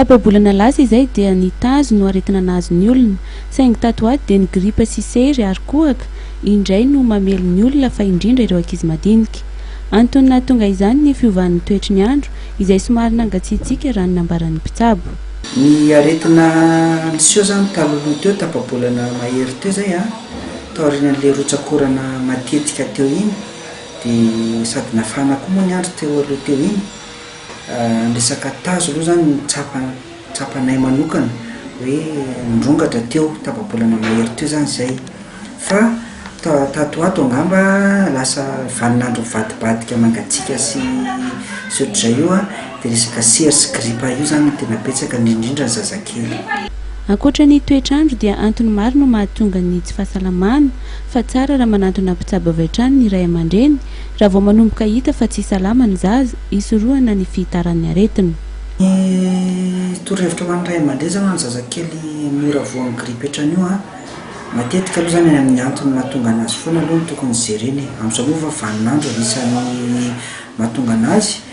Tapa-bolana lasa izay dia ny tazo no aretina nahazo ny olona, saingy tato ho ato dia ny gripa sy sery ary kohaka indray no mamely ny olona fa indrindra ireo ankizy madinika. Antony nahatonga izany ny fiovan'ny toetry ny andro izay somary nangatsiatsiaka raha ny nambaran'ny mpitsabo. Ny aretina niseho izany talohaloha teo, tapa-bolana mahery teo izay, taorian'ilay rotsak'orana matetika teo iny dia sady nafana koa moa ny andro teo aloha teo iny. Ny resaka tazo aloha izany no tsapa tsapanay manokana hoe nirongatra teo tapa-bolana mahery teo izany izay. Fa ta- tato ho ato angamba lasa vanin'andro mivadibadika mangatsiaka sy sy ohatr'izay io an, dia resaka sery sy gripa io izany no tena betsaka indrindra ny zazakely. Ankoatra ny toetr'andro dia antony maro no mahatonga ny tsy fahasalamana, fa tsara raha manantona mpitsabo avy hatrany ny ray aman-dreny Raha vao manomboka hita fa tsy salama ny zaza, hisorohana ny fihitaran'ny aretina. Ny torohevitra ho an'ny ray aman-dreny izany ho an'ny zazakely mora voan'ny grippe hatrany io, matetika aloha izany any amin'ny antony mahatonga an'azy foana aloha no tokony jerena e. Amin'izao moa efa vanin'andro ary isan'ny mahatonga an'azy.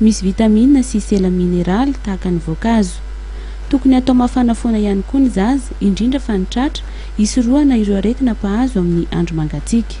Misy vitamina sy sela mineraly tahaka ny voankazo. Tokony hatao mafana foana ihany koa ny zaza, indrindra fa ny tratra, hisorohana ireo aretina mpahazo amin'ny andro mangatsiaka.